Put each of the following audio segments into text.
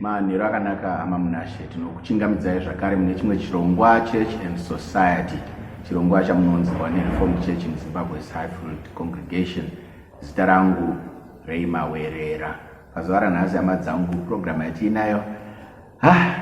Manheru akanaka hama Munashe, tinokuchingamidzai zvakare mune chimwe chirongwa Church and Society, chirongwa chamunonzirwa neReformed Church in Zimbabwe's Highfield Congregation. Zita rangu Ray Mawerera. Pazuva ranhasi hama dzangu, purogiramu yatiinayo ah,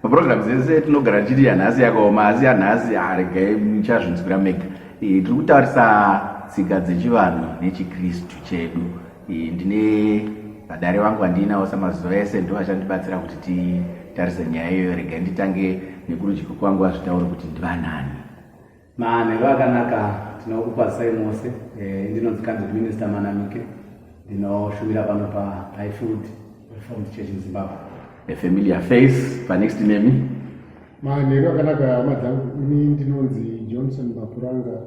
Program dzese tinogara tichiti yanhasi yakaoma asi yanhasi haregai muchazvinzwira mega. E, tiri kutarisa tsika dzechivanhu nechiKristu chedu. E, ndine vadare vangu vandiinawo samazuva ese ndo vachandibatsira kuti titarise nyaya iyoyo. Regai nditange nekurudyi kwangu vazvitaure kuti ndivanani. Manheru akanaka tinokukwazisai mose eh, ndinonzi candid minister manamike ndinoshumira pano paifield reformed church in zimbabwe a familiar face panext nemi manheru akanaka hama dzangu ini ndinonzi johnson mapuranga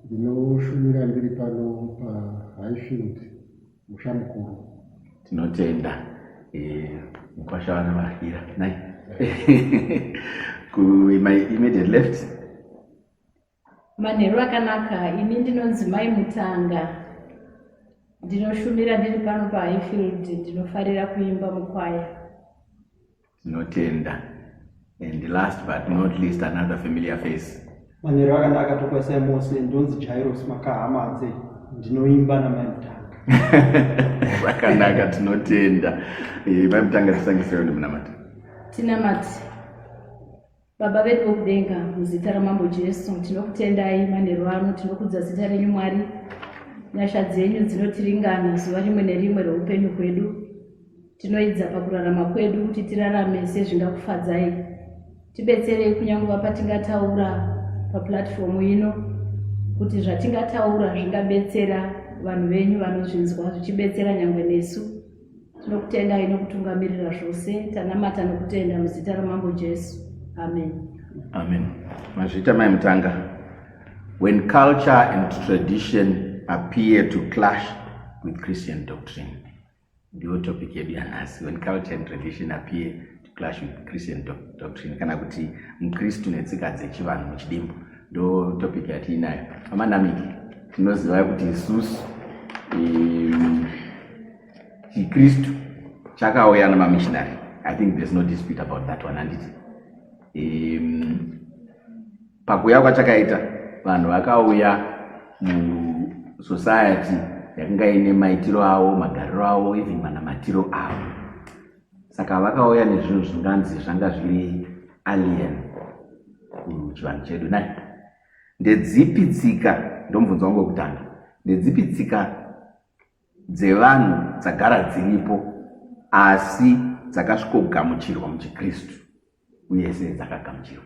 ndinoshumira ndiri pano pahighfield musha mukuru tinotenda eh, mukwasha vana vahira nai my immediate left manheru akanaka ini ndinonzi mai mutanga ndinoshumira ndiri pano pahighfield ndinofarira kuimba mukwaya Tinotenda. And last but not least another familiar face. Manero akanaka tokwaisai mose ndonzi Jairos Makahamadze ndinoimba namai Mutanga. Zvakanaka tinotenda. Eh, mai Mutanga tisangisewo nemunamati. Tinamati. Baba vedu vokudenga, muzita raMambo Jesu, tinokutendai manheru ano, tinokudza zita renyu Mwari. Nyasha dzenyu dzinotiringana zuva rimwe nerimwe reupenyu hwedu. Tinoidza pakurarama kwedu kuti tirarame sezvingakufadzai. Tibetserei kunyanguva patingataura papulatifomu ino kuti zvatingataura zvingabetsera vanhu venyu vanozvinzwa zvichibetsera nyangwe nesu. Tinokutendai nokutungamirira zvose, tanamata nokutenda muzita raMambo Jesu. Amen. Amen. Mazvita mai Mutanga, when culture and tradition appear to clash with Christian doctrine, ndiyo topic yedu yanhasi, when culture and tradition appear clash with christian doctrine kana kuti mukristu netsika dzechivanhu muchidimbu ndo topic yatiinayo amanamiki tinoziva kuti isusu chikristu chakauya nemamishinary i think there's no dispute about that one handiti pakuuya kwachakaita vanhu vakauya musociety yakanga ine maitiro avo magariro avo even manamatiro avo saka vakauya nezvinhu zvinganzi zvanga zviri alien kuchivanhu chedu nai ndedzipi tsika ndomubvunza wangu wekutanga ndedzipi tsika dzevanhu dzagara dziripo asi dzakasvikogamuchirwa muchikristu uye sei dzakagamuchirwa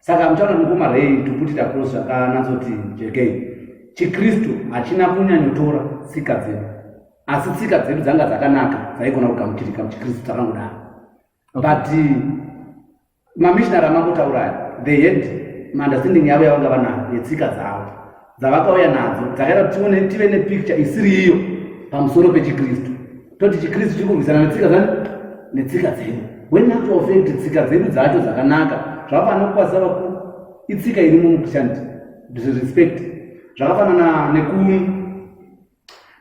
saka hamutaura mukoma rei to put it across zvakanatsoti jekei chikristu hachina kunyanyotora tsika dzedu asi tsika dzedu dzanga dzakanaka dzaigona kugamuchirika muchikristu dzakangodaro but mamishinari amangotauraya they had maunderstanding yavo yavanga vanayo yetsika dzavo dzavakauya nadzo dzakaita kuti tione tive nepicture isiri iyo pamusoro pechikristu toti chikristu chiri kurwisana netsika zani netsika dzedu wenatural fact tsika dzedu dzacho dzakanaka zvakafanana kukwazisa vakuru itsika iri mumuchristandi disrespect zvakafanana nekuni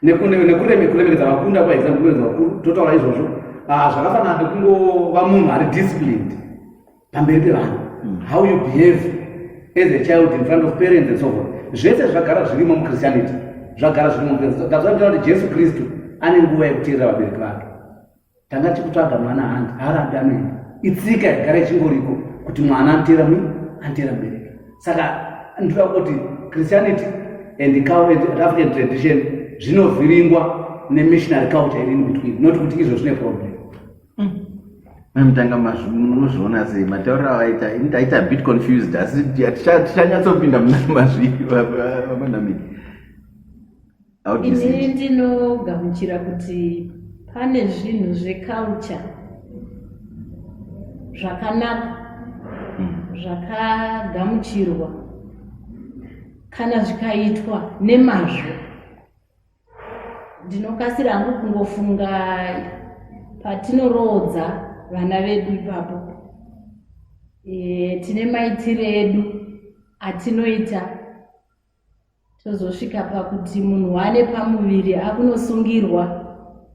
nekuremekedza vakunda kwa example kuremekedza vakuru totaura izvozvo ah, zvakafanana nekungova munhu ari disciplined pamberi pevanhu hmm. how you behave as a child in front of parents and so forth zvese zvagara zvirimo muchristianity zvagara zvirimo muchristianity that's why tinoda kuti jesu kristu ane nguva yekuteerera vabereki vake tanga tikutsvaga mwana hanzi haarabi anoenda itsika yagara ichingoriko kuti mwana antera mui antera mbereki saka ndinoda kuti christianity and african tradition zvinovhiringwa nemissionary culture iri inbetween not kuti izvo zvine problem mamutanga mm. mazvinozviona sei matauriro avaita ini taita bit confused asi tichanyatsopinda muna mazvii vamanamiki Ini ndinogamuchira kuti pane zvinhu zveculture zvakanaka hmm. zvakagamuchirwa kana zvikaitwa nemazvo ndinokasira hangu kungofunga patinoroodza vana vedu ipapo e, tine maitiro edu atinoita tozosvika pakuti munhu waane pamuviri akunosungirwa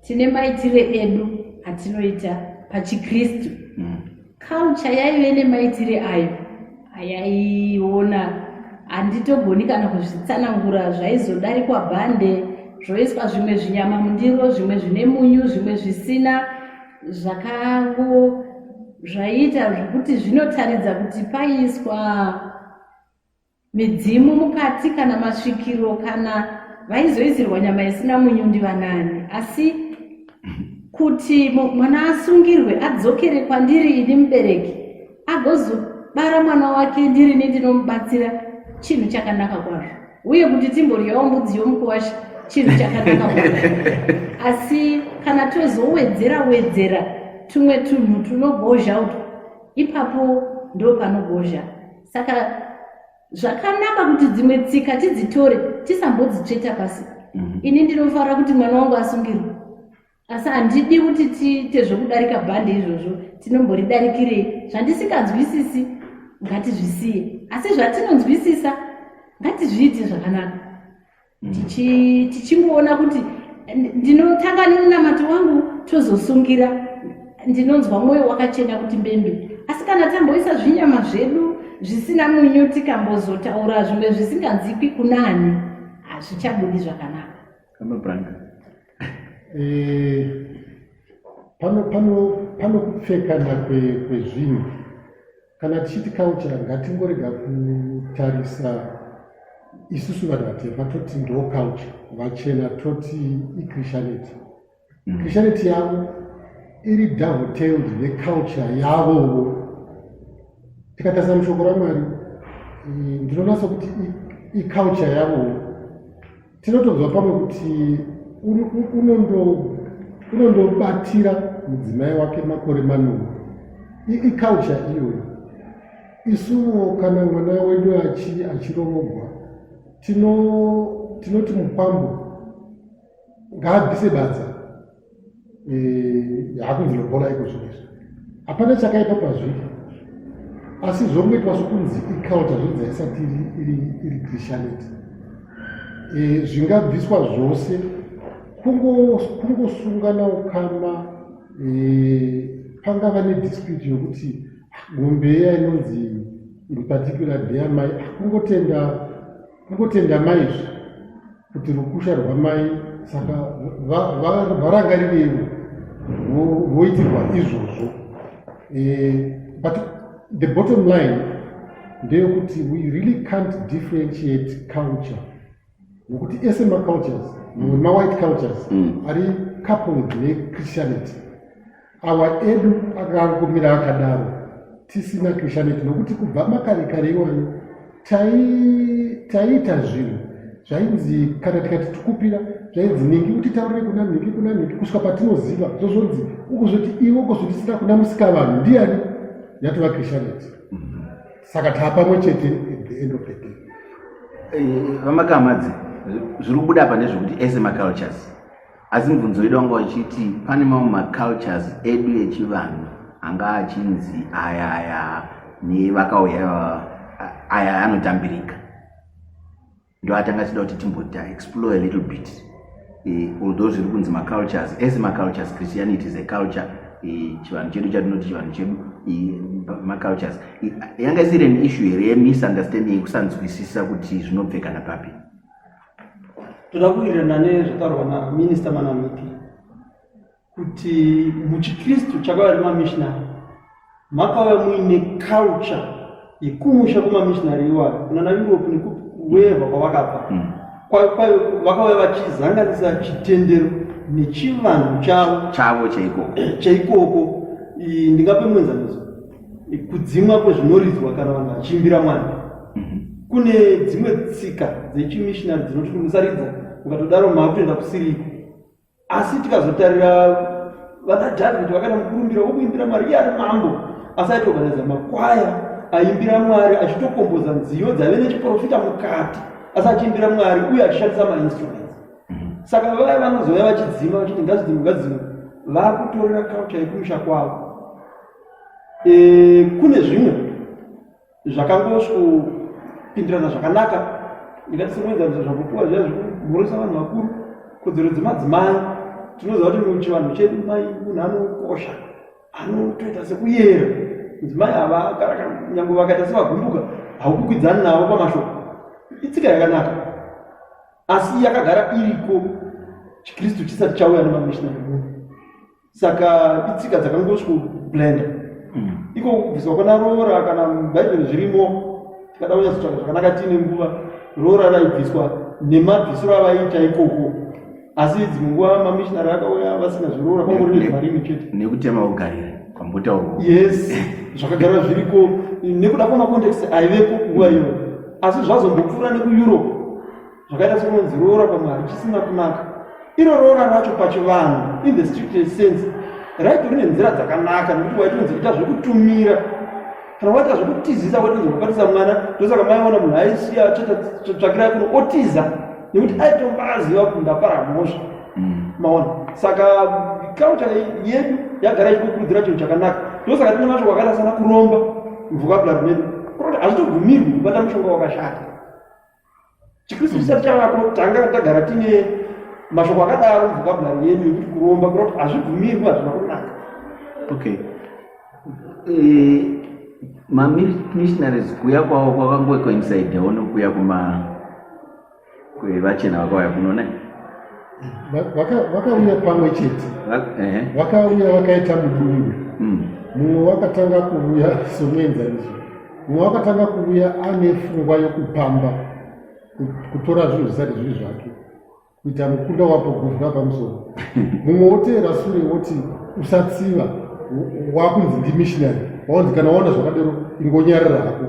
tine maitire edu atinoita pachikristu mm. kalcha yaive nemaitire ayo ayaiona handitogoni kana kuzvitsanangura zvaizodarikwa bhande zvoiswa zvimwe zvinyama mundiro zvimwe zvine munyu zvimwe zvisina zvakango zvaiita zvekuti zvinotaridza kuti paiswa Midzimu mukati kana masvikiro kana vaizoisirwa nyama isina munyu ndivanani asi kuti mwana asungirwe adzokere kwandiri ini mubereki agozobara mwana wake ndirini ndinomubatsira chinhu chakanaka kwazvo uye kuti timbodyawo mbudzi yomukuwasha chinhu chakanaka kwazvo asi kana tozowedzera wedzera tumwe tunhu tunogozha uto ipapo ndo panogozha saka zvakanaka kuti dzimwe tsika tidzitore tisambodzitsveta pasi mhm. ini ndinofara kuti mwana wangu asungirwe asi handidi kuti tiite zvokudarika bhande izvozvo tinomboridarikirei zvandisinganzwisisi ngatizvisiye asi zvatinonzwisisa ngatizviite zvakanaka tichingoona kuti ndinotanga nemunamato wangu tozosungira ndinonzwa mwoyo wakachena kuti mbembe asi kana tamboisa zvinyama zvedu zvisina munyu tikambozotaura zvimwe zvisinganzikwi kunani hazvichabudi zvakanaka eh, pano pano pano kupfekana kwezvinhu Kana tichiti culture ngatingorega kutarisa isusu vanhu vatema toti ndo culture vachena toti ichristianity mm. christianity yavo iri downtailed neculture yavowo tikatarisa mushoko ramwari ndinonatsa kuti iculture yavowo tinotonzwa pamwe kuti unondobatira mudzimai wake makore manomwe iculture iyoyo isuwo kana mwana wedu achiroogwa tinoti mukwambo ngaabvise badza Eh, hakunzi lobola iko zvinhu izvi hapana chakaipa pazviri asi zvongoitwa sokunzi iculture zvinzi haisati iri christianity eh, zvingabviswa zvose kungosungana ukama eh, pangava nedispute yokuti ah, mombe iya inonzi in particular deamai akungotenda ah, Kungotenda mai izvi kuti rukusha rwamai saka varangarirei voitirwa izvozvo eh, but the bottom line ndeyekuti we really can't differentiate culture nokuti ese macultures mamwe mawhite cultures mm. ari coupled nechristianity awa edu akangomira akadaro tisina kushaneti nokuti kubva makare kare iwayo taiita zvinhu zvainzi kana tikati tikupira zvainzi nhingi kuti taurire kuna nhingi kuna nhingi kusvika patinoziva zvozvonzi ukuzvoti iwe ukuzvitisira kuna musikavanhu ndiani yatova krishaneti mhm. saka taa pamwe chete at the end of the day eh, vamakamadzi zviri kubuda apa ndezvekuti ese macultures Asi mubvunzo wedu wanga uchiti pane mamwe macultures edu echivanhu anga achinzi aya aya nevakauya aya anotambirika ndoatanga achida kuti timbota explore a little bit eh, although zviri kunzi macultures ese macultures christianity is a culture eh, chivanhu chedu chatinoti chivanhu chedu eh, macultures yanga isiri an issue here yemisunderstanding yekusanzwisisa kuti zvinobvekana papi toda kuwirirana nezvataurwa naminista manamiti kuti muchikristu chakauya nemamishinari makauya muine culture yekumusha kwemamishinari iwayo kunana europe nekuweva kwavakabva hmm. vakauya vachizanganisa chitendero nechivanhu chavo chavo chaikoko chaikoko ndingape muenzaniso kudzimwa kwezvinoridzwa kana vanhu vachiimbira mwari mhm. kune dzimwe tsika dzechimishinari dzinoti kuti musaridza mukatodaro maakutoenda kusiriko asi tikazotarira vana dhavhidhi vakaita mukurumbira wokuimbira mwari iye ari mambo asi aitoganaiza makwaya aimbira mwari achitokomboza nziyo dzaive nechiprofita mukati asi achiimbira mwari uye achishandisa mainstruments mhm. saka vaya vanozouya vachidzima vachiti ngazidzimwe ngazidzimwe vakutorera kaucha yekumusha kwavo E, kune zvimwe zvakangosvopindirana zvakanaka ingati sekuenzanisa zvakupuwa zviya zvekumhoresa vanhu vakuru kodzero dzemadzimai tinoziva kuti muchivanhu chedu mai munhu anokosha anotoita sekuyera mudzimai ava nyangwe vakaita sevagumbuka haukukwidzani navo pamashoko itsika yakanaka asi yakagara iriko chikristu chisati chauya nemamishinari munhu saka itsika dzakangosvikoblenda hmm. iko kubviswa kwana roora kana bhaibheri zvirimo tikada kunyatsotsvaga zvakanaka tiine nguva roora raibviswa nemabvisiro avaiita ikoko asi dzimwe nguva mamishinari akauya vasina zviroora kwangori nezvimarimi chete nekutema ugarira kwambotaurwa yes zvakagara zviriko nekuda kwemacontext aivepo nguva iyoyo asi zvazombopfuura nekueurope zvakaita sekunonzi roora pamwari chisina kunaka iro roora racho pachivanhu in the stricted sense raito rine nzira dzakanaka nekuti waitonzi ita zvekutumira kana waita zvekutizisa waitonzi kubatisa mwana ndosaka maiona munhu aisiya tsvakirai kuno otiza nekuti aitonga aziva kuti ndapara mhosva mm. maona saka kaucha yedu yagara ichikukurudzira chinhu chakanaka ndosaka tine mashoko akaita sana kuromba mvukabula rwedu kuroti hazvitobvumirwi kubata mushonga wakashata chikristu chisati chavako tanga tagara tine mashoko akadaro vocabulary yedu yekuti kuromba kunoti hazvibvumirwi hazvina kunaka okay eh, mamissionaries kuya kwavo kwakangoe kwainside ono kuya kuma kwevachena vakauya kunona vakauya pamwe chete vakauya vakaita mudungwe hmm. mumwe wakatanga kuuya somuenzaniso mumwe wakatanga kuuya ane fungwa yokupamba kutora zvinhu zvisati zviri zvake kuita mukunda wapo guvura pamusoro mumwe woteera sure woti usatsiva wakunzi ndimishinary waonzi kana waona zvakadero ingonyarira hako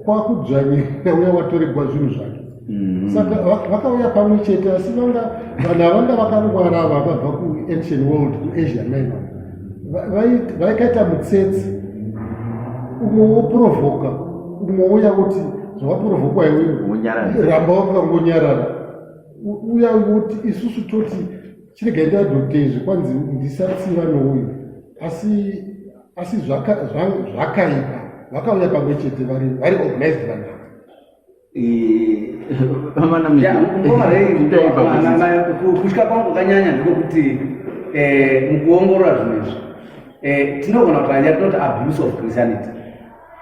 kwakudzvanyira uya watoregwa zvinhu zvake Mm. saka vakauya pamwe chete asi vanga vanhu avanga vakangwara vakabva kuancient world kuasia minor vaikaita mutsetse umwe woprovoka umwe uya kuti zvawaprovokwa iweramba wakangonyarara uya woti isusu toti chiregai ndadotezve kwanzi ndisatsiva nouyu asi asi zvakaipa vakauya pamwe chete vari organized vanhu kutya kwangu kanyanya ndekwekuti eh, mukuongorora zvinhu izvi eh, tinogona kutanya tinoti abuse of christianity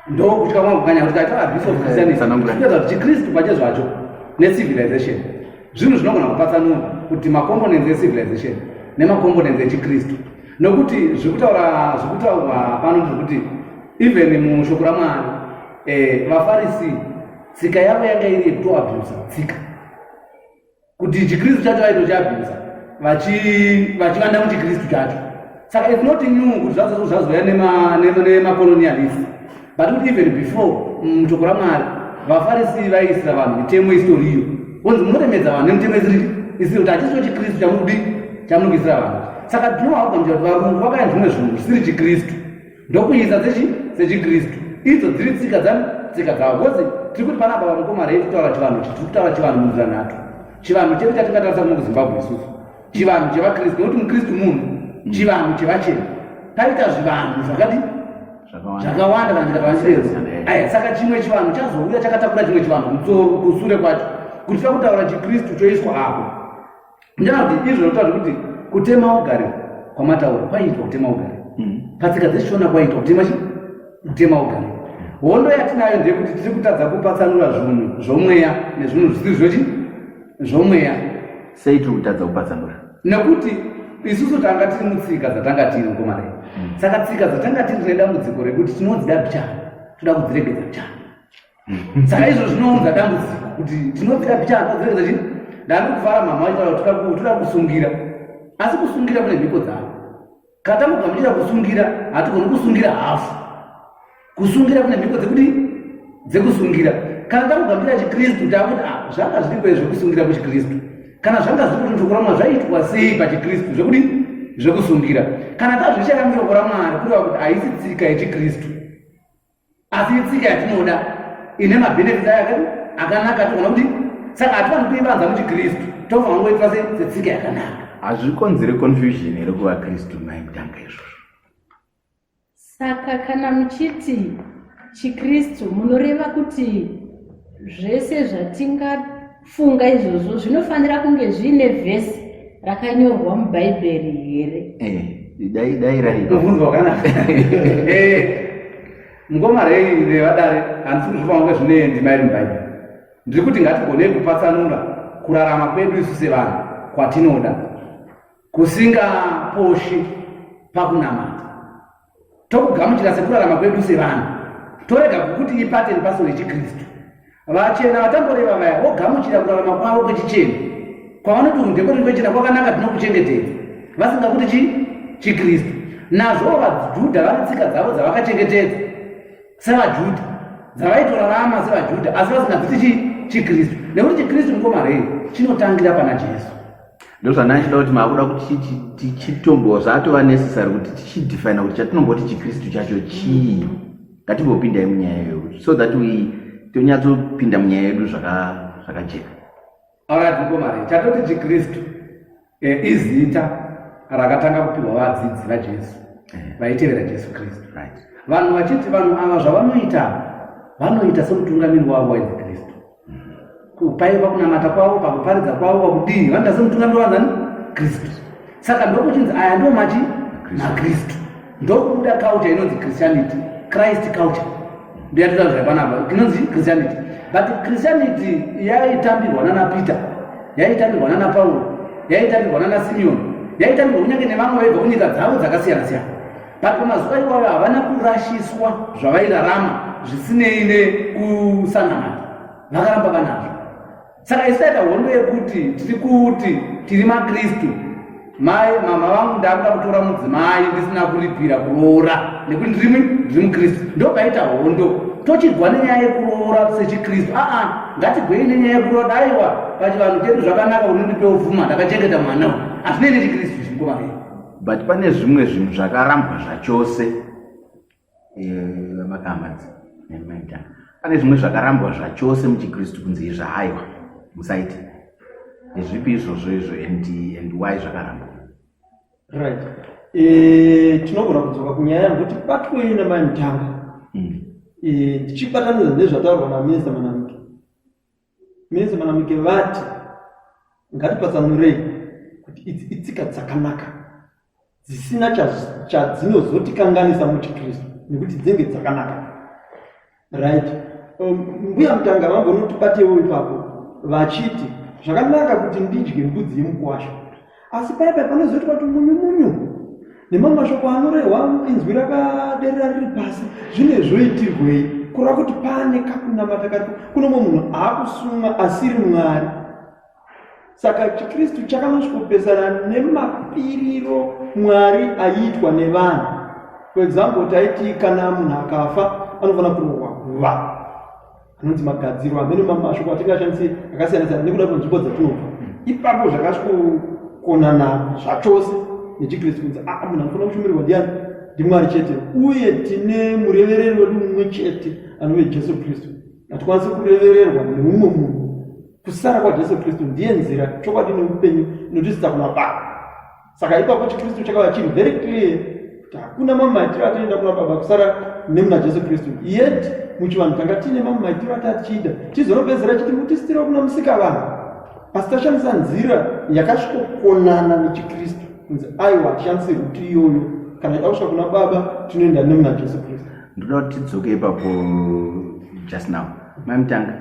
ndokutya kwangu kanyanya kuti kaita abuse of christianity tinoita kuti chikristu pache zvacho necivilization zvinhu zvinogona kupatsanura kuti macomponents ecivilization nemacomponents echikristu nokuti zvekutaura zvekutaurwa pano zvekuti even mushoko ramwari eh, mafarisi tsika yavo yanga iri yekutoabhusa tsika kuti chikristu chacho vaitochiabhusa vachivanda muchikristu chacho saka its not new kuti zvazouya nemacolonialist but kuti even before mutoko mm, ramwari vafarisi vaiisira vanhu mitemo isitoriyo onzi munoremedza vanhu nemitemo isiri isiri kuti hachisiwo chikristu chamuri kudii chamuri kuisira vanhu saka tinovakugamuchira kuti varungu vakaenda zvimwe zvinhu zvisiri chikristu ndokuisa dzechi dzechikristu idzo dziri tsika dzani tsika dzavo bcause tiri kuti panapa vamukoma rei kutaura chivanhu chitiri kutaura chivanhu munzira nhatu chivanhu chedu chatingatarisa kuno kuzimbabwe isusu chivanhu chevakristu nekuti mukristu munhu mm. chivanhu chevachena taita zvivanhu zvakati zvakawanda kana tikatavachireza aya saka chimwe chivanhu chazouya chakatakura chimwe chivanhu kutsoro kusure kwacho kuti takutaura chikristu choiswa apo Nyanzi izvo zvinotaura kuti kutema ugari kwamataura kwaiitwa kutema ugari. Mm. Patsika dzeshona kwaiitwa kutema chi? Kutema ugari. Hondo yatinayo ndeyekuti tiri kutadza kupatsanura zvinhu zvomweya nezvinhu zvisiri zvochi zvomweya. Sei tiri kutadza kupatsanura? Nekuti isusu tanga tiri mutsika dzatanga tiri mukomana mm. saka tsika dzatanga tiri nedambudziko rekuti tinodzida bcha toda kudziregedza bcha saka izvo zvinounza dambudziko kuti tinobvira picha anodzirekeza chii ndani kuvara mama vaitaura kuti toda kusungira asi kusungira kune mhiko dzavo kana tamugamuchira kusungira hatigoni kusungira hafu kusungira kune mhiko dzekuti dzekusungira kana tamugamuchira chikristu taakuti a ah, zvanga zviriko zvekusungira kuchikristu kana zvanga zviri kuti chokuramwa zvaiitwa sei pachikristu zvekuti zvekusungira kana tazvichera muchoko ramwari kureva kuti haisi tsika yechikristu asi itsika yatinoda ine mabenefits ayo akati akanaka tinoona kuti saka hatifaniri kuivanza muchikristu tofanira kungoitwa setsika yakanaka hazvikonzere confusion here kuva kristu mai mutanga izvozvo saka kana muchiti chikristu munoreva kuti zvese zvatinga Funga izvozvo zvinofanira kunge zviine vhesi rakanyorwa mubhaibheri here? Eh, dai dai raibvunzwa kana eh, mukoma rei nevadare handisi kuzvipa kunge zvine ndima iri mubhaibheri ndiri kuti ngatigonei kupatsanura kurarama kwedu isu sevanhu kwatinoda kusingaposhi pakunamata tokugamuchira sekurarama kwedu sevanhu torega kukuti ipate nepaso rechikristu vachena vatamboreva vaya vogamuchira kurarama kwavo kwechichena kwavanoti undekoti kwechena kwakanaka tinokuchengetedza vasingakuti chi chikristu nazvowo vajudha vane tsika dzavo dzavakachengetedza sevaJudha dzavaitorarama sevaJudha asi vasingadziti chii chiKristu nekuti chiKristu mukomarei chinotangira pana Jesu ndozvandanga chida kuti maakuda kuti tichitombo zvatova necessary kuti tichidefina kuti chatinomboti chiKristu chacho chii ngatimbopindai munyaya iyoyo so that we tonyatsopinda munyaya yedu zvakajeka Alright mukomana, chatoti chiKristu eh, izita rakatanga kupihwa vadzidzi vaJesu eh. vaitevera Jesu Kristu. Vanhu vachiti vanhu ava zvavanoita vanoita semutungamiri wavo wainzi Kristu. Mm-hmm. Paiva kunamata kwavo, pakuparidza kwavo, pakudii vanoita semutungamiri wanzani Kristu. Saka ndokuchinzi aya ndomachi naKristu. ndokubuda culture inonzi christianity christ culture ndiyatitaura zvapanapa inonzi christianity but christianity yaitambirwa nana peter yaitambirwa nana pauro yaitambirwa nana simeon yaitambirwa kunyange nevamwe vaibva kunyika dzavo dzakasiyana siyana but pamazuva iwayo havana kurashiswa zvavairarama zvisinei nekusanamata vakaramba vanazvo saka isu taita hondo yekuti tiri kuti tiri makristu mai mama vangu ndakuda kutora mudzimai ndisina kuripira kuroora nekuti ndiri ndiri mukristu ndopaita hondo tochigwa nenyaya yekuroora sechikristu aa ngatigwei nenyaya yekuroora daiwa pachivanhu chedu zvakanaka unondipewo vuma ndakachengeta mwana u hazvinei nechikristu chimkomamei but pane zvimwe zvinhu zvakarambwa zvachose vamakamadzi eh, nemaita pane zvimwe zvakarambwa zvachose muchikristu kunzi izvi haiwa musaiti ndezvipi izvozvo izvo and and why zvakarambwa right eh, tinogona kudzoka kunyaya yanguti batwei namai mutanga hmm. eh, ndichibatanidza nezvataurwa naminista manamiki Minisa Manamuke vati ngatipatsanurei kuti idzi itsika dzakanaka dzisina chadzinozotikanganisa muchikristu nekuti dzinge dzakanaka right um, mbuya mutanga vambonotibatewo ipapo vachiti zvakanaka kuti ndidye mbudzi yemukwasha asi paya paya panozoitwa kuti munyu munyu nemamwe mashoko anorehwa inzwi rakaderera riri pasi zvine zvoitirwei kureva kuti pane kakunamata kari kuno mwe munhu aakusumwa asiri mwari saka chikristu chakanosvikopesana nemapiriro mwari aiitwa nevanhu kwedzambo taiti kana munhu akafa anofanira kurohwa guva anonzi magadziro amene mashoko atingashandise akasiyana siyana nekuda kwenzvimbo dzatinobva ipapo zvakasvikokonana zvachose nechikristu kunzi aa ah, munhu anofanira kushumirirwa ndiani ndimwari chete uye tine murevereri wedu mumwe chete anove jesu kristu hatikwanisi kurevererwa neumwe munhu kusara kwajesu kristu ndiye nzira chokwadi neupenyu inotisisa kuna baba saka ipapo chikristu chakava chiri very clear kuti hakuna mamwe maitiro atinoenda kuna baba kusara nemuna jesu kristu yet muchivanhu tanga tiine mamwe maitiro ati atichida tizoropedzera chiti mutisitira kuna musika vanhu asi tashandisa nzira yakasvikokonana nechikristu kunzi aiwa hatishandise ruti iyoyo kana ida kusvika kuna baba tinoenda nemuna jesu kristu ndoda kuti tidzoke ipapo just now maimutanga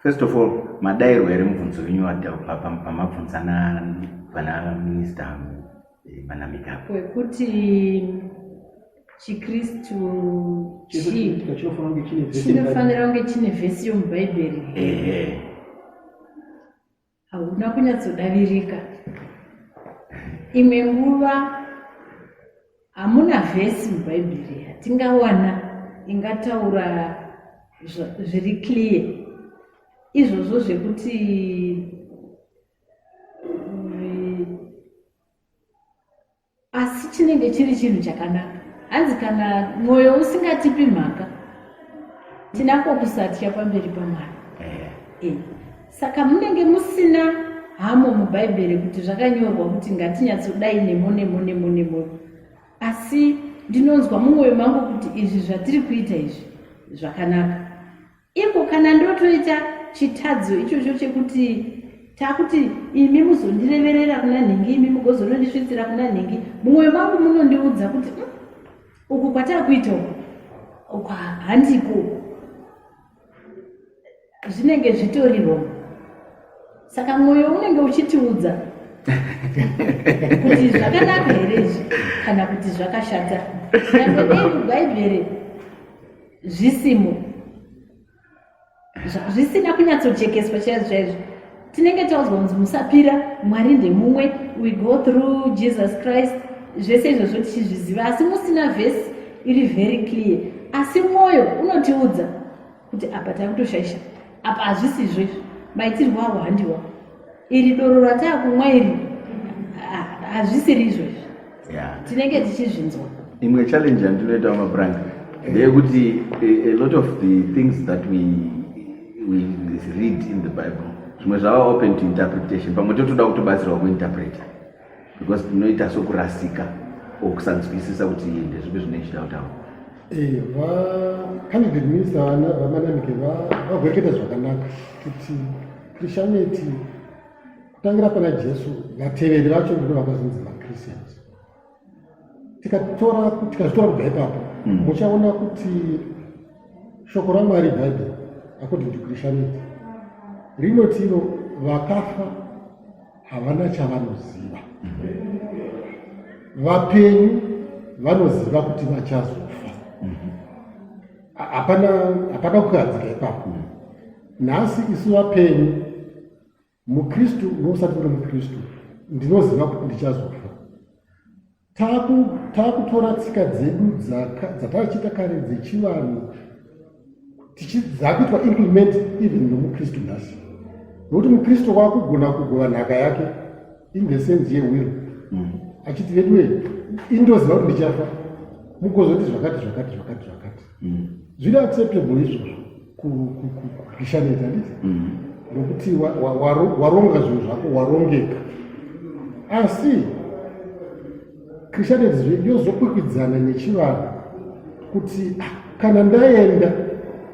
First of all, madairwa here mubvunzo wenyu pamabvunza pana minista pana eh, Migabe wekuti chikristu chinofanira kunge chine vhesi yomubhaibheri hauna kunyatsodavirika imwe nguva hamuna vhesi mubhaibheri yatingawana ingataura zviri clear izvozvo zvekuti asi chinenge chiri chinhu chakanaka hanzi kana mwoyo usingatipi mhaka tinako kusatya pamberi pamwari eh. eh. saka munenge musina hamo mubhaibheri kuti zvakanyorwa kuti ngatinyatsodai nemo nemo nemo nemo asi ndinonzwa mumwoyo mangu kuti izvi zvatiri kuita izvi zvakanaka Iko kana ndotoita chitadzo ichocho chekuti takuti imi muzondireverera kuna nhingi imi mugozonondisvitsira kuna nhingi mumwoyo mangu munondiudza kuti mm, uku kwatakuita uku uku handiko zvinenge zvitori wrong saka mwoyo unenge uchitiudza kuti zvakanaka here izvi kana kuti zvakashata nyangwe dei mubhaibheri zvisimo zvisina kunyatsojekeswa chaizvo chaizvo tinenge taudzwa kunzi musapira mwari ndemumwe we go through jesus christ zvese izvozvo tichizviziva asi musina vhesi iri very clear asi mwoyo unotiudza kuti apa takutoshaisha apa hazvisizvo izvi maitirwo awo handiwa iri doro rataakumwa iri hazvisiri izvo izvi tinenge tichizvinzwa imwe challenge yandinoita vamabrank ndeyekuti a lot of the things that we, we read in the bible zvimwe zvava open to interpretation pamwe totoda kutobatsirwa kuinterpreta because tinoita sokurasika or kusanzwisisa kuti ndezvipi zvinoichita kutaura eh, vacabinet minister vamanamike vagwereketa zvakanaka kuti christianity kutangira pana jesu vateveri vacho ndino vakazonzi vachristians tikazvitora kubva ipapo hmm. muchaona kuti shoko ramwari bhaibheri according to christianity rinotino vakafa havana chavanoziva vapenyu vanoziva kuti vachazofa hapana hapana kukadzika ipapo nhasi isu vapenyu mukristu nousati uri mukristu ndinoziva kuti ndichazofa taakutora tsika dzedu dzataichiita kare dzechivanhu dzakuitwa implement even nomukristu nhasi nokuti mukristu wakugona kugova nhaka yake in the sense yewiro mm. achiti veduwe indoziva kuti ndichafa mukozoti zvakati zvakati zvakati zvakati mm. zviri acceptable izvozvo kurishanidza nditi mm-hmm. nokuti waronga zvinhu zvako warongeka asi christianity yozokwikwidzana nechivanhu kuti ah, kana ndaenda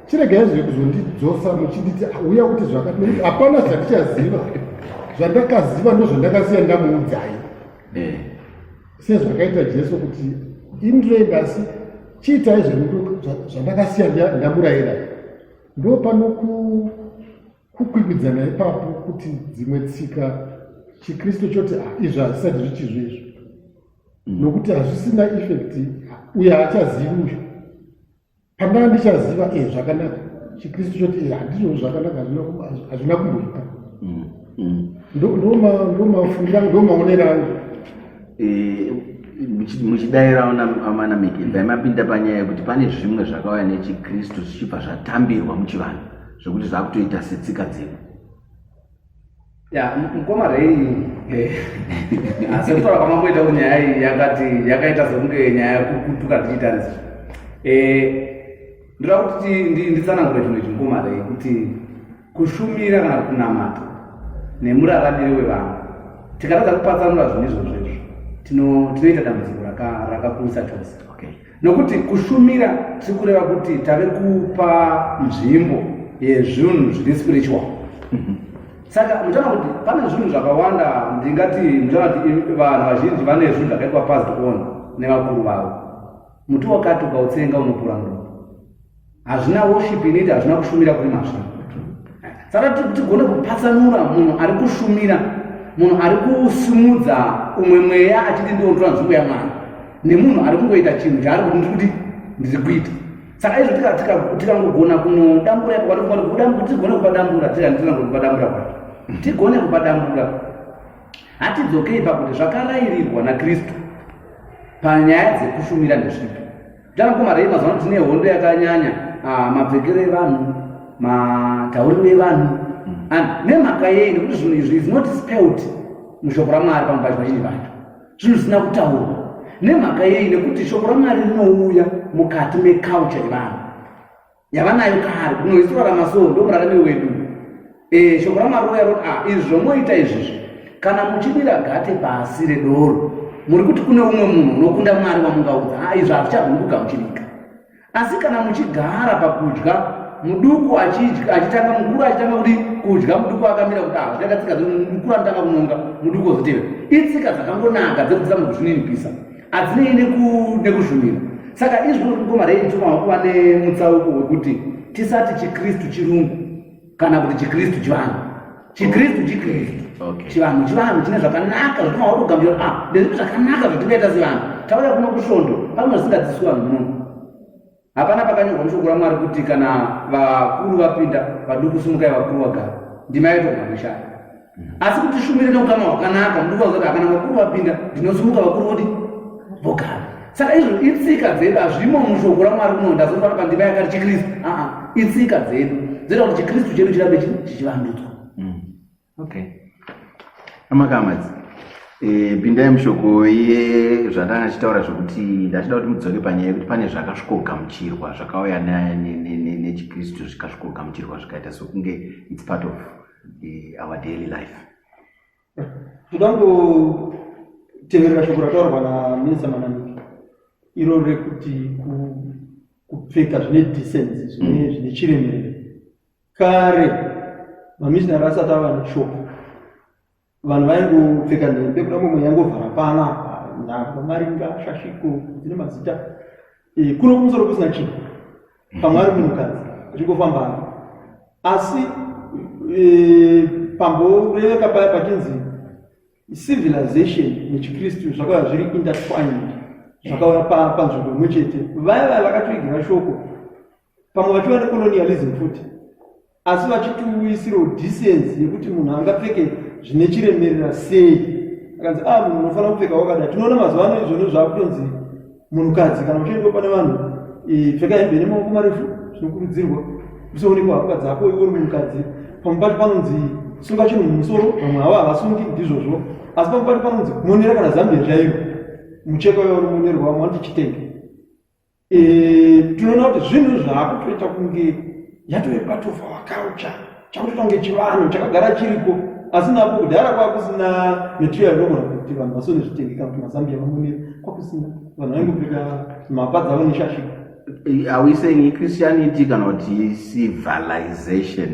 chiregai zve kuzondidzosa muchinditi ah, uya kuti zvakati nekuti hapana zvandichaziva zvandakaziva ndozvandakasiya ndamuudzai eh. sezvakaita jesu kuti indirei asi chiitai zvandakasiya ndamurayira ndo pano kukwikwidzana ipapo kuti dzimwe tsika chikristu choti ah, izvi hazvisati zvichizvo izvo mm. nokuti hazvisina effect uye haachazivi uyu pandava ndichaziva e zvakanaka chikristu choti e handizvo zvakanaka hazvina kumboita mm, mm. ndomafungiro angu ndomaonero angu eh, muchidairawo amana mikindai mapinda panyaya yekuti pane zvimwe zvakauya nechikristu zvichibva zvatambirwa muchivanhu zvekuti zvakutoita setsika dzedu mukoma rei eh, asi kutaura kwamamboita kuti nyaya iyi yakati yakaita sekunge nyaya yekutuka tichitarisa eh, ndoda kuti nditsanangure chinhu ichi mukoma rei kuti kushumira kana kunamata nemuraramiri wevanhu tikatadza kupatsanura zvinhu izvozvo izvo tinoita dambudziko rakakurisa chose nokuti kushumira tiri kureva kuti tave kupa nzvimbo yezvinhu zviri spiritual mhm. saka muchaona kuti pane zvinhu zvakawanda ndingati muchaona kuti vanhu vazhinji vane zvinhu zvakaitwa past on nevakuru vavo muti wakati ukautsenga unopura mndu hazvina worship inoiti hazvina kushumira kuri mazvo saka tigone kupatsanura munhu ari kushumira munhu ari kusimudza umwe mweya achiti ndiontora nzvimbo yamwana nemunhu ari kungoita chinhu chaari kuti ndiri kuti ndiri kuita saka izvo tikangogona kunodambura tigone kupadambura tiakupadambura kwacho tigone kupadambura hatidzokei pakuti zvakarairirwa nakristu panyaya dzekushumira nezvipi Tana mkoma rei mazuva ano tine hondo yakanyanya ah, mapfekero evanhu matauriro evanhu mm. and nemhaka yei nekuti zvinhu izvi is not spelt mushoko ramwari pamwe pacho vazhinji vacho zvinhu zvisina kutaurwa nemhaka yei nekuti shoko ramwari rinouya mukati meculture yevanhu yavanayo kare kuno isu rarama so ndomuraramiro wedu eh, shoko ramaroya roti ah, izvi zvomoita izvizvi kana muchidira gate pasi redoro muri kuti kune umwe munhu unokunda mwari wamungaudza ah, izvi hazvichagoni kugamuchirika asi kana muchigara pakudya muduku achitanga mukuru achitanga kuti kudya muduku akamira kuti hazviakatsika ah, mukuru anotanga kunonga muduku ozotevera itsika dzakangonaka dzekudzisa munhu zvininipisa adzinei nekuzvumira saka izvi zvinokugoma rei ndituma wakuva nemutsauko wekuti tisati chikristu chirungu kana kuti chikristu chivanhu chikristu chikristu chivanhu chivanhu chine zvakanaka zvotuma wakugambira a ah, ndezvipi zvakanaka zvatingaita sevanhu tauya kuno kusvondo pamwe zvisingadziswi vanhu munono Hapana pakanyorwa mushoko raMwari kuti kana vakuru vapinda vaduku simukai vakuru vagara ndima yaitwa mamishaa asi kuti shumire neukama hwakanaka muduku vazoda kana vakuru vapinda ndinosimuka vakuru vodi vogara saka izvo itsika dzedu hazvimo mushoko ramwari kuno ndazofana pandima yakati chikristu aa itsika dzedu dzoita kuti chikristu chedu chirambe chichivandudzwa okay amakamadzi e, pindai mushoko ye zvandanga achitaura zvekuti ndachida kuti mudzoke panyaya yekuti pane zvakasvikogamuchirwa zvakauya nechikristu zvikasvikogamuchirwa zvikaita sokunge its part of e, our daily life toda kuteverera shoko rataurwa naminisa manamiki iro rekuti kupfeka zvine decency zvine mm. chiremerero Kare mamishinari asati ava neshoko, vanhu vaingopfeka nhembe kuda mumwe yangovhara pana nhamba maringa shashiko dzine mazita eh, kuno kumusoro kusina chinhu pamwe ari munhukadzi achingofamba ari asi eh, pamboreveka paya pachinzi civilization nechikristu zvakauya zviri intertwined zvakauya panzvimbo imwe chete vaya vaya vakatoigira shoko pamwe vachiva necolonialism futi asi vachitiuyisirawo decency yekuti munhu angapfeke zvine chiremerera sei akanzi a ah, munhu unofanira kupfeka wakada tinoona mazuva ano izvoni zvaakutonzi munhukadzi kana uchiendwa pane vanhu pfeka hembe nemaoko marefu zvinokurudzirwa usionekwa hapwa dzako iwe uri munhukadzi pamwe pacho panonzi sunga chinhu mumusoro vamwe havo havasungi ndizvozvo asi pamwe pacho panonzi monera kana zambia chaivo mucheka uyo unomonerwa vamwe vanoti chitenge Eh, tinoona kuti zvinhu zvaakutoita kunge yatove part of our culture chakutoita kunge chivanhu chakagara chiriko asi napo kudhara kwakusina mitiyo yainogona kuti vanhu vasone zvitengeka kuti mazambiya mamonera kwakusina vanhu vaingopfeka mapa dzavo neshashi eh, are we saying ichristianity kana kuti civilization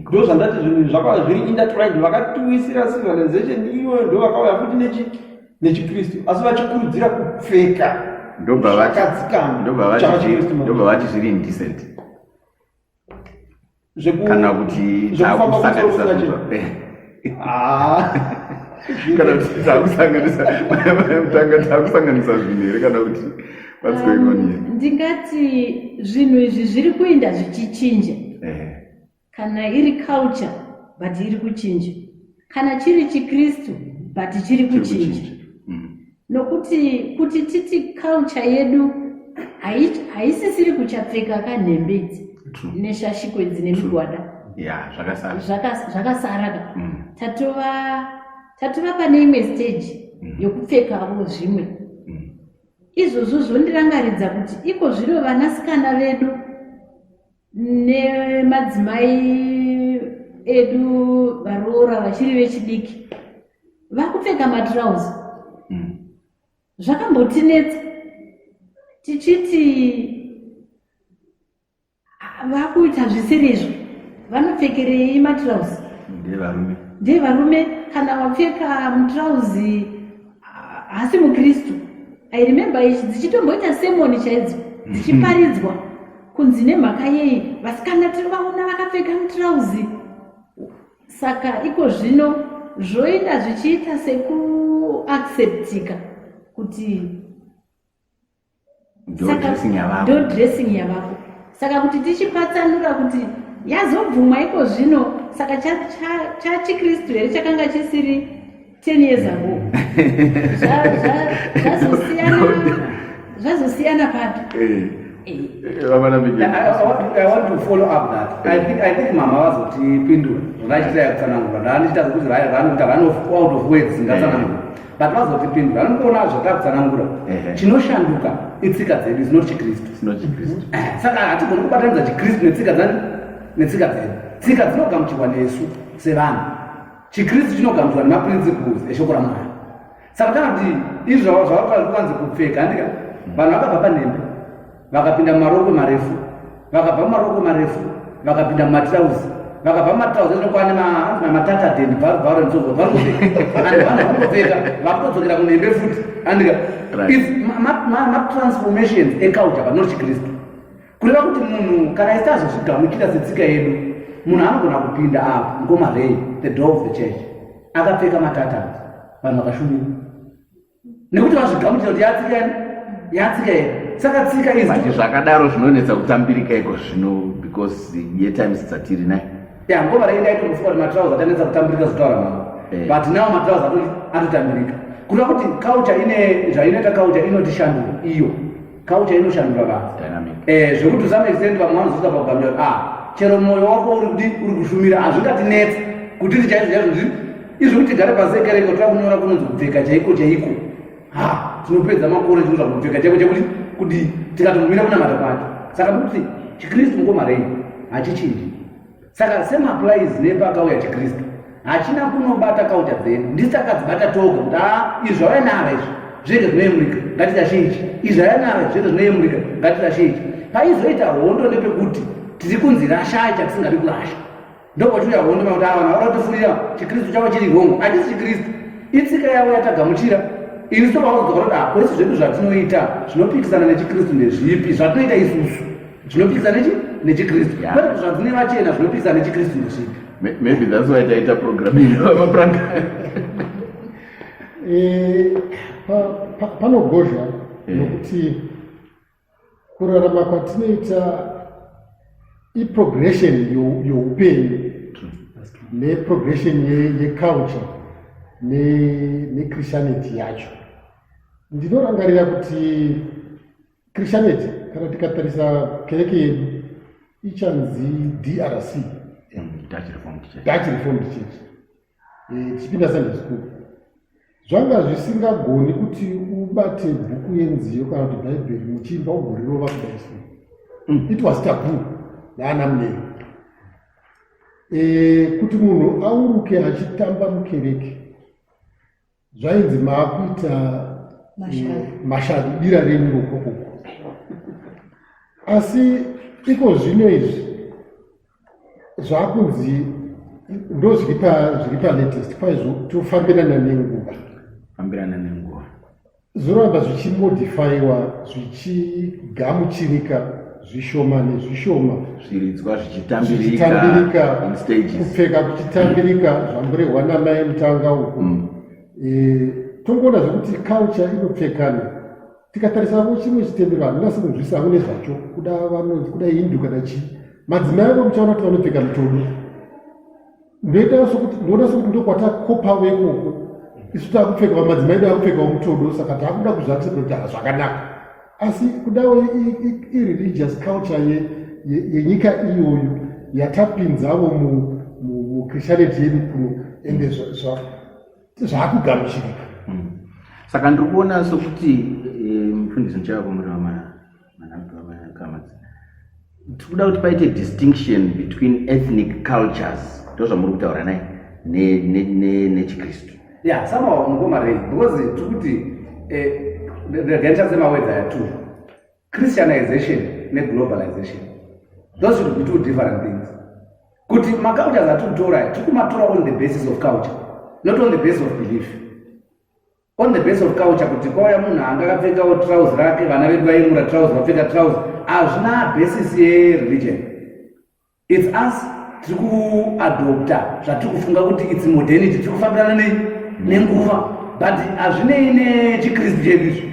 ndo zvandati zvinhu zvakava zviri intertwined vakatiwisira civilization iyoyo ndo vakauya futi nechi nechiKristu asi vachikurudzira kupfeka ndobva vati zviri indecent kana kuti takusanganisa kana kuti takusanganisa mutanga takusanganisa zvinhu here kana kuti what's going on here um, ndingati zvinhu izvi zviri kuenda zvichichinja Kana iri culture but iri kuchinja. Kana chiri chiKristu but chiri kuchinja. Mm. Nokuti kuti titi culture yedu haisisiri kuchapfeka kanhembe idzi neshashiko idzi nemigwada. Yeah, zvakasara. Zvakasara. Zvakasara ka. Mm. Tatova tatova pane imwe stage Mm. yokupfekavo zvimwe mm. izvozvo zvondirangaridza kuti iko zviro vanasikana vedu nemadzimai edu varoora vachiri vechidiki vakupfeka matrouse mm. zvakambotinetsa tichiti vakuita zvisiri izvo vanopfekerei matrouse ndevarume ndevarume kana wapfeka mutrouse haasi mukristu i remember ichi dzichitomboita semoni chaidzo dzichiparidzwa kunzi nemhaka yei vasikana tiri vaona vakapfeka mutirauzi saka iko zvino zvoita zvichiita sekuacceptika kuti ndodressing yavako saka kuti tichipatsanura kuti yazobvumwa iko zvino saka chachikristu here chakanga chisiri 10 years ago zvazosiyana papi eh. eh. eh, mama vazotipindura vachitaya kutsanangura ndaandichita kuti vanofa out of words ngatsanangura but vazotipindura anokuona zvatakutsanangura chinoshanduka itsika dzedu zinoti chikristu eh, saka hatigoni kubatanidza chikristu netsika dzani netsika dzedu tsika dzinogamuchirwa nesu sevanhu chikristu chinogamuchirwa nemaprinciples eshoko ramwari saka kana kuti izvi zvavakuanzi kupfeka andika vanhu vakabva panhembe vakapinda mumarokwe marefu vakabva mumarokwe marefu vakapinda mumatirauzi vakabva mumatirauzi anokwane mahanzi mamatataden bvarubvaro nsozovaruvanopfeka vakutodzokera kunhembe futi andika matransformation eculture but not chikristu kureva kuti munhu kana isiti azozvigamuchira setsika yedu munhu anogona kupinda apo ngomarei the door of the church akapfeka matatani vanhu vakashumira nekuti vazvigamuchira kuti yatsika ere yatsika ere saka tsika izati zvakadaro zvinonetsa kutambirika iko zvino because yetimes dzatiri nai ya ngoma rei ndaitomufuka kuti matraus atanetsa kutambirika zvitaura mama eh. but now matraus atotambirika kuda kuti kaucha ine zvainoita kaucha inotishandura iyo Culture inoshandura vanhu. Dynamic. Eh, zvekuti to some extent vamwe vanozoita pagamira kuti ah, chero moyo wako uri kudi uri kushumira hazvingatinetsi kuti ndi chaizvo chaizvo ndi izvi kuti tigare pasi ekereke tira kunyora kunonzi kupfeka chaiko chaiko ha tinopedza makore tinoza kupfeka chaiko chaikuti kuti tikatomira kunamata kwacho saka kuti chikristu mukomarei hachichinji Saka same applies nepakauya chiKristu. Hachina kunobata kauta dzedu. Ndisi takadzibata toga kuti ah izvi zvauya naro izvi zvinenge zvinoyemurika ngatizvazhinji. Izvi zvauya naro izvi zvinenge zvinoyemurika ngatizvazhinji. Paizoita hondo nepekuti tiri kunzi rashai chatisingadi kurasha. Ndopotiuya hondo makuti ava ah, varotifurira chiKristu chavo chiri hongo. Hatisi chiKristu. Itsika yavo yatagamuchira isu vaudzwa kuti hakwese zvedu zvatinoita zvinopikisana nechikristu ndezvipi zvatinoita isusu zvinopisa nechi nechikristu yeah. but zvadzine vachena zvinopisa nechikristu ndosvika maybe that's why taita program inamapranka eh, panogozha eh. nokuti kurarama kwatinoita iprogression youpenyu neprogression yeculture nechristianity yacho ndinorangarira kuti Christianity kana tikatarisa kereke yedu ichanzi DRC Dutch Reformed Church Dutch Reformed Church eh, tichipinda Sunday school zvanga zvisingagoni kuti ubate bhuku yenziyo kana kuti bhaibheri muchiimba ugorirova kudai so mm. it was taboo naana munero eh, kuti munhu auruke achitamba mukereke zvainzi maakuita mashari dira renyu rokokoko asi iko zvino izvi zvakunzi ndo zviri palatest kwaizvo tofambirana nenguva fambirana nenguva zvoramba zvichimodifaiwa zvichigamuchirika zvishoma nezvishoma zviridzwa zvichitambirika kupfeka kuchitambirika zvamburehwa namai mutanga uku mm. e, tongoona zvekuti culture inopfekana tikatarisavo chimwe chitendero handina sekunzwisa avo nezvacho kuda vanonzi kuda hindu kana chii madzimai avo muchaona kuti vanopfeka mitodo ndoita sokuti ndoona sokuti ndokwatakopa vekoko isu takupfeka vamadzimai edu akupfekawo mutodo saka takuda kuzvati kuti hazvakanaka asi kudawo ireligious culture yenyika iyoyo yatapinzavo muchristianity yedu kuno ende zvaakugamuchirika hmm. saka ndiri kuona sokuti eh, mufundisi ndichava kumureva mwana tikuda kuti paite distinction between ethnic cultures ndozvamuri kutaura nai nechikristu ya somehow mukomarei because tikuti regandichasemawedza eh, yatu christianization neglobalization those should be two different things kuti macultures atikutora tikumatora on the basis of culture not on the basis of belief On the base of culture kuti kwauya munhu anga akapfekawo trouse rake vana vedu vaimura trouse vapfeka trouse hazvina basis yereligion its us tiri kuadopta zvatiri kufunga kuti its modernity tiri kufambirana nei nenguva but hazvinei nechikristu chedu izvi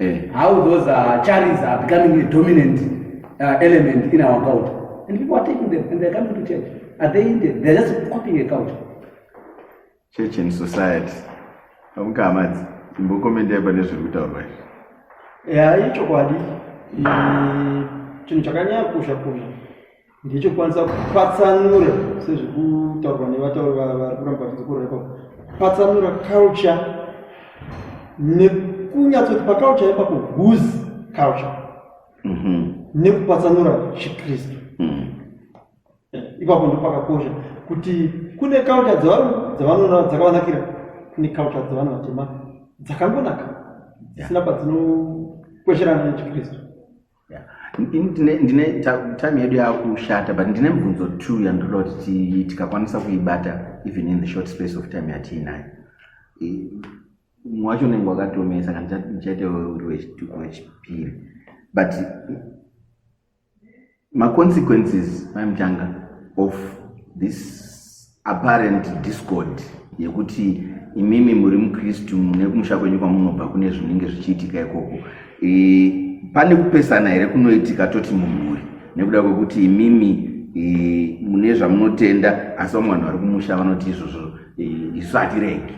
Eh, how those uh, charities are becoming a dominant uh, element in our culture. And people are taking them and they're coming to church. Are they Indian? They're just copying a culture. Church and society. Hamukamadzi, imbokomenda ipa nezviri kutaurwa izvi. Yeah, ichokwadi. Chinhu chakanyanya kukosha kuzvi. ndechokwanisa kupatsanura sezviri kutaurwa nevatauri vari kuramba vachizikurepa kupatsanura culture nekunyatsoti paculture ipapo whose culture mhm. nekupatsanura chikristu mhm. eh, ipapo ndo pakakosha kuti kune culture dzavanoona dzakavanakira kune culture dzevanhu vatema dzakangonaka dzisina kwadzinokwesherana nechikristu ndine time yedu yakushata but ndine mibvunzo two yandinoda kuti tikakwanisa kuibata even in the short space of time yatiinayo mwacho unenge wakatomesa kana ndichaite uri wechituko wechipiri but maconsequences maimutanga of this apparent discord yekuti imimi muri mukristu mune kumusha kwenyu kwamunobva kune zvinenge zvichiitika ikoko e, pane kupesana here kunoitika toti mumhuri nekuda kwekuti imimi e, mune zvamunotenda asi vamwe vanhu vari kumusha vanoti izvozvo e, isu hatiregi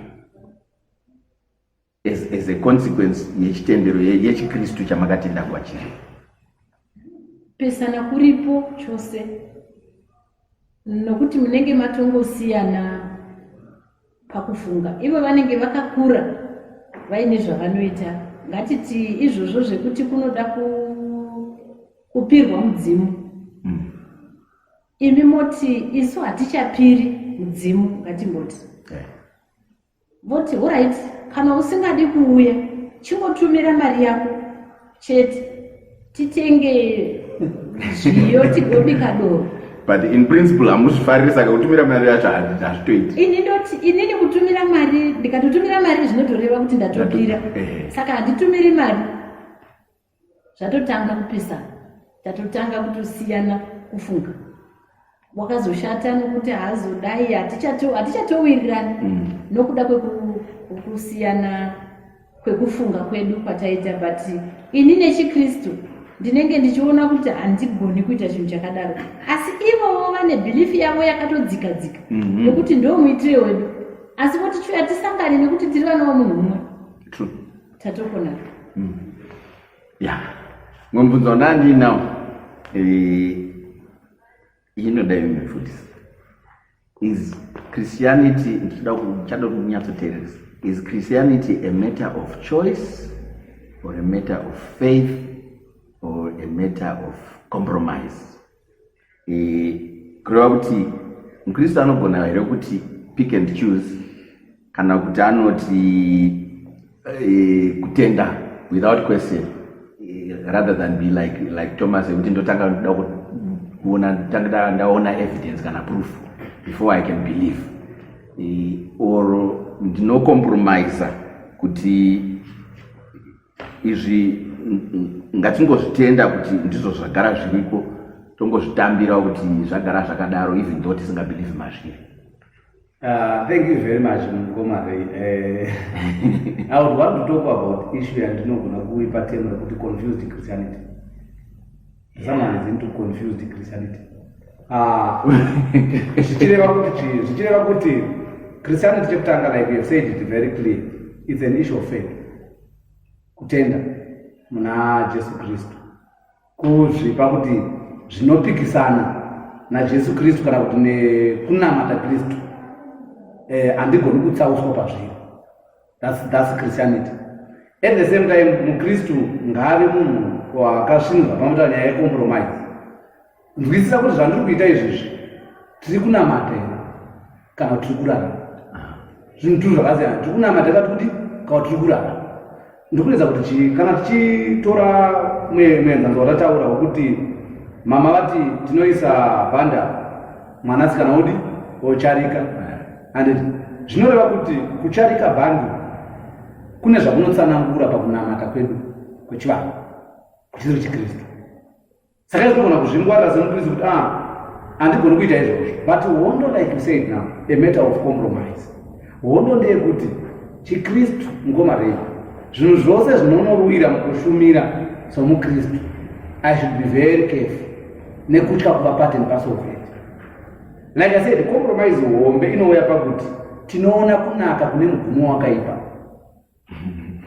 as, as a consequence yechitendero yechikristu chamakatenda kwachiri pesana kuripo chose nokuti munenge matongosiyana pakufunga ivo vanenge vakakura vaine zvavanoita ngatiti izvozvo zvekuti kunoda kupirwa mudzimu mm. imi moti isu hatichapiri mudzimu ngatimboti yeah. voti horit kana usingadi kuuya chingotumira mari yako chete titenge zviyo tigobika doro but in principle hamuzvifariri saka kutumira mari yacho hazvitoiti ini ndoti inini kutumira mari ndikatotumira mari zvinotoreva kuti ndatopira saka handitumiri mari zvatotanga kupesana tatotanga kutosiyana kufunga wakazoshata nokuti haazodai hatichatowirirani mm. nokuda kwekusiyana kwekufunga kwedu kwataita but ini nechikristu ndinenge ndichiona kuti handigoni kuita chinhu chakadaro asi ivowo vane bhilifi yavo yakatodzika dzika mhm. nokuti ndo muitire wedu asi voti tiwe hatisangani nekuti tiri vana vamunhu mumwe Tatopona. Mm. Yeah. Ngombunzo nandi now. Eh inoda imefundisa. Is Christianity ndichida kuchada kunyatsoteeresa. Is Christianity a matter of choice or a matter of faith or a matter of compromise? eh, kureva kuti mukristu anogona here kuti pick and choose kana kuti anoti eh, kutenda without question eh, rather than be like, like thomas ekuti ndotanga ndoda kuona ndotanga ndaona evidence kana proof before i can believe or ndinocompromiser kuti izvi ngatingozvitenda kuti ndizvo zvagara zviriko tongozvitambirawo kuti zvagara zvakadaro even though tisingabelieve mazviri Uh, thank you very much mukoma rei eh, i would want to talk about issue yandinogona kuipa temo rekuti confused christianity zvamanzi into confused christianity ah, zvichireva kuti chii zvichireva kuti christianity chekutanga like you said it very clear its an issue of faith kutenda muna jesu kristu kuzvipa kuti zvinopikisana najesu kristu kana kuti nekunamata kristu eh, handigoni kutsauswa pazviri That's, that's Christianity. At the same time, mukristu ngaave munhu wakasvinurwa pamota nyaya yecompromise. Nzwisisa kuti zvandiri kuita izvizvi tiri kunamata here kana tiri kurara zvinhu tiri zvakasiyana tiri kunamata kati kuti kana tiri kurara ndikuedza kuti chii kana tichitora muenzanzo watataura wekuti mama vati tinoisa bhanda mwanasikana odi ocharika handiti zvinoreva kuti kucharika bhandi kune zvakunotsanangura pakunamata kwedu kwechivanhu kuchiri chikristu saka izvinogona kuzvingwarira semukristu kuti a ah, handigoni kuita izvozvo but hondo like you said now a matter of compromise hondo ndeyekuti chikristu mukoma rei zvinhu zvose zvinonorwira mukushumira somukristu i should be very careful nekutya kuva part and parcel of it like i said compromise hombe inouya pakuti tinoona kunaka kune mugumo wakaipa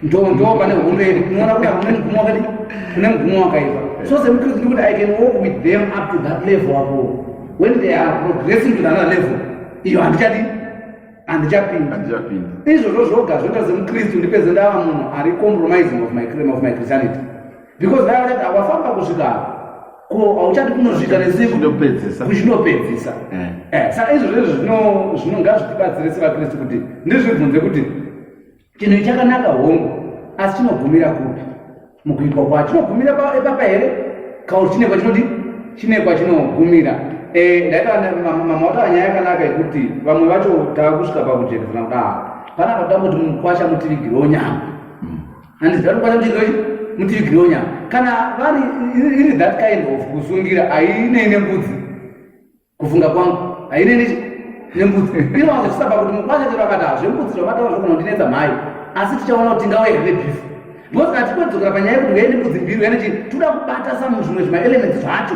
ndoo pane hondo yedu tinoona kunaka kune mugumo wakaipa kune mugumo wakaipa so semukristu ndikuti i can walk with them up to that level avo when they are progressing to another level iyo handichadi handichapinda izvozvo zvoga zvoita semukristu ndipedze ndava munhu ari compromising of my, of my christianity because vaya vachati awafamba kusvika ko hauchati kunozviita nesiuzvinopedzisa eh. eh, saka izvo zvezvo zvino ngazvitibatsire sevakristu kuti ndizvibvunze kuti chinhu ichakanaka hongu asi chinogumira kupi mukuitwa kwacho chinogumira epapa here kauri chinekwa chinoti chinekwa chinogumira eh, ndaitaamama wataura nyaya yakanaka yekuti vamwe vacho tava kusvika pakujekedzana kudaro panapa toda kuti mukwasha mutivigirewo nyama handizi ndakubata kuti ndoi mutivi gironya kana vari iri that kind of kusungira hainei nembudzi kufunga kwangu hainei nembudzi inowanza chisaba kuti mukwasha chero akati hazvembudzi zvamataura zvogona kundinetsa mhai asi tichaona kuti ndingawe here nebhifu because kana tikodzokera panyaya yekuti uya nembudzi mbiri uya nechii toda kubata samu zvimwe zvima elements zvacho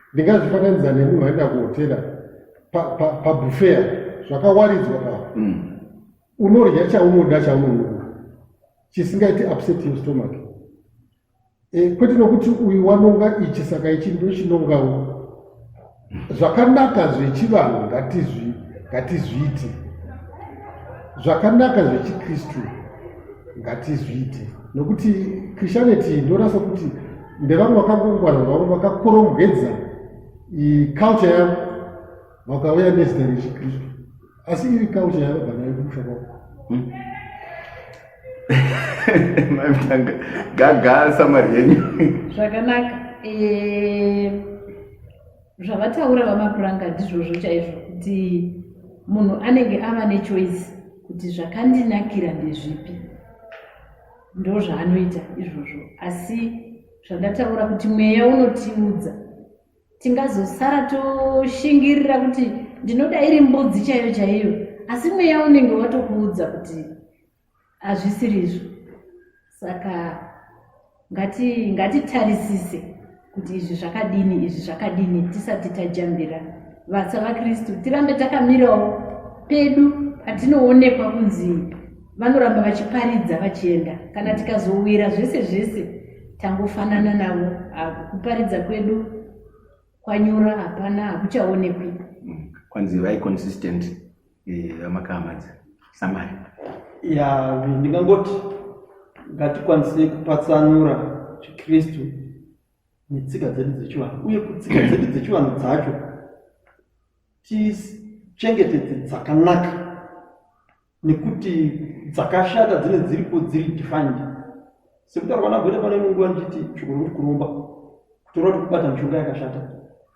ndingazvifananidza nemunhu aenda kuhotera pabufea pa, pa zvakawaridzwa pa mm. unorya chaunoda chaunonoka chisingaiti upset your stomach e, kwete nokuti uyu wanonga ichi saka ichi ndochinongawo zvakanaka zvechivanhu ngatizviite zvakanaka zvechikristu ngatizviite nokuti christianity ndorasa kuti ndevamwe vakangongwara vavo vakakorongedza culture yavo vakauya nezita rechikristu asi iri culture yavo banayo kumusha kwavo hmm. maitanga gaga samari yenyu zvakanaka eh, zvavataura vamapuranga ndizvozvo chaizvo kuti munhu anenge ava nechoice kuti zvakandinakira ndezvipi ndo zvaanoita izvozvo asi zvandataura kuti mweya unotiudza tingazosara toshingirira kuti ndinoda iri mbudzi chaiyo chaiyo asi mweya unenge watokuudza kuti hazvisirizvo saka ngatitarisise ngati kuti izvi zvakadini izvi zvakadini tisati tajambira vatsa vakristu tirambe takamirawo pedu patinoonekwa kunzi vanoramba vachiparidza vachienda kana tikazowira zvese zvese tangofanana navo kuparidza kwedu kwanyura hapana hakuchaonekwi kwanzi vai consistent vamakamadza eh, samari ya ndingangoti ngatikwanise kupatsanura chikristu netsika dzedu dzechivanhu uye kutsika dzedu dzechivanhu dzacho tichengetedze dzakanaka nekuti dzakashata dzine dziripo dziri defined Sekutaurwa naGweta pane imwe nguva ndichiti shoko rokuti kuromba kutora kuti kubata mishonga yakashata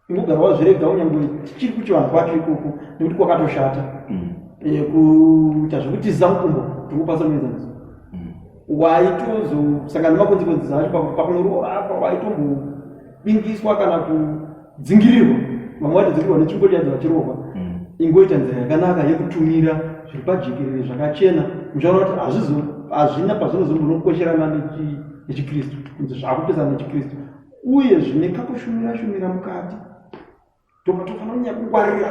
ingogara wazvirega unyangwe tichiri kuchivanhu kwacho ikoko nekuti kwakatoshata mm. eh, kuita zvekutiza mukumbo tingopa somuenzaniso mm. waitozosangana nemakonzekwenzi zacho pakunoroora apa waitombobingiswa kana ku dzingirirwa vamwe vacho dzingirwa netsvimbo chadzo vachirohwa mm. ingoita nzira yakanaka yekutumira zviri pajekerere zvakachena muchaona kuti hazvizo hazvina pazvinozombonokwesherana nechikristu kunzi zvakupesana nechikristu uye zvine kakushumira shumira mukati toka tofanira kunyanya kungwarira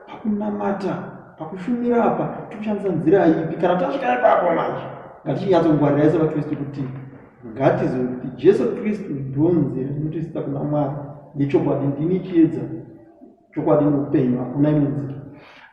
pakunamata pakushumira apa tikushandisa nzira ipi kana tasvika ipapo manje ngatichinyatsongwarira ise vakristu kuti Ngatizive kuti Jesu Kristu ndonzi rinotiisa kuna Mwari nechokwadi ndini chiedza chokwadi noupenyu hakuna imwe nzira.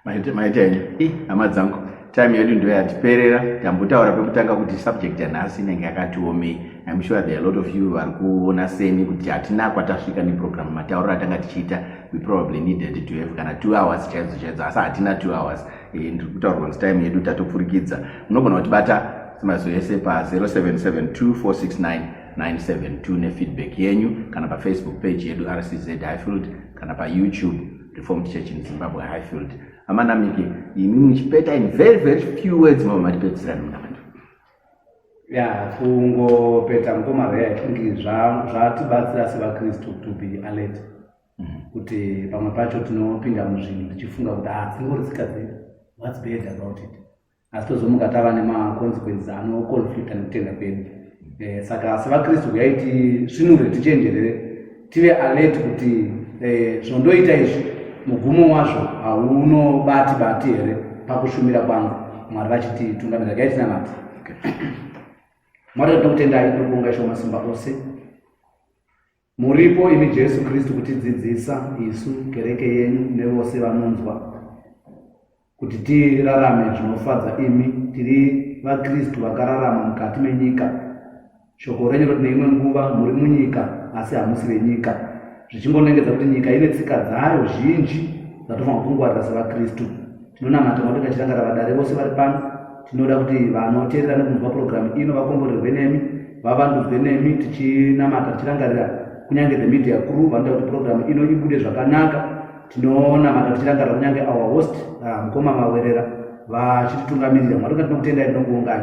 Maita maita ini eh, hama dzangu time yedu ndiyo yatiperera tambotaura pekutanga kuti subject yanhasi inenge yakatiomei im sure there are a lot of you vari kuona seni kuti hatina kwatasvika neprogramu matauriro atanga tichiita we probably needed to have kana two hours chaidzo chaidzo asi hatina two hours eh, ndiri kutaurirwa kuti time yedu tatopfurikidza munogona kutibata Mazwi ese pa 0772469972 nefeedback yenyu kana pafacebook page yedu RCZ Highfield kana paYouTube Reformed Church in Zimbabwe Highfield. Amanamike, imi muchipeta in very very few words mama matipedzisira nuna vantu. Ya, kungopeta mukoma Ray, I think zvatibatsira sevaKristu to be alert. Mm-hmm. Kuti pamwe pacho tinopinda muzvinhu tichifunga kuti ah, dzingori dzikadzira. What's bad about it? asi tozomuka tava nemaconsequences anoconflicta nekutenda kwedu eh, saka sevakristu huyai tisvinure tichenjerere tive alert kuti eh, zvondoita izvi mugumo wazvo haunobati bati here pakushumira kwangu mwari vachiti tungamira gai tinamati mwari tinoda kutendai tokuvonga isho masimba ose Muripo imi Jesu Kristu kutidzidzisa isu kereke yenyu nevose vanonzwa kuti tirarame zvinofadza imi tiri vaKristu vakararama mukati menyika. Shoko renyu roti neimwe nguva muri munyika asi hamusi venyika, zvichingonengedza kuti nyika ine tsika dzayo zhinji dzatofanirwa kungwarira sevaKristu. Tinonamata Mwari vachitangara vadare vose vari pano. Tinoda kuti vanoteerera nekunzwa purogiramu ino vakomborerwe nemi, vavandudzwe nemi, tichinamata tichirangarira kunyange the media crew vanoda kuti purogiramu ino ibude zvakanaka. Tinonamata tichirangarira kunyange our host ah, mukoma Mawerera vachititungamirira. Mwari ngatinokutengai tinokuongai.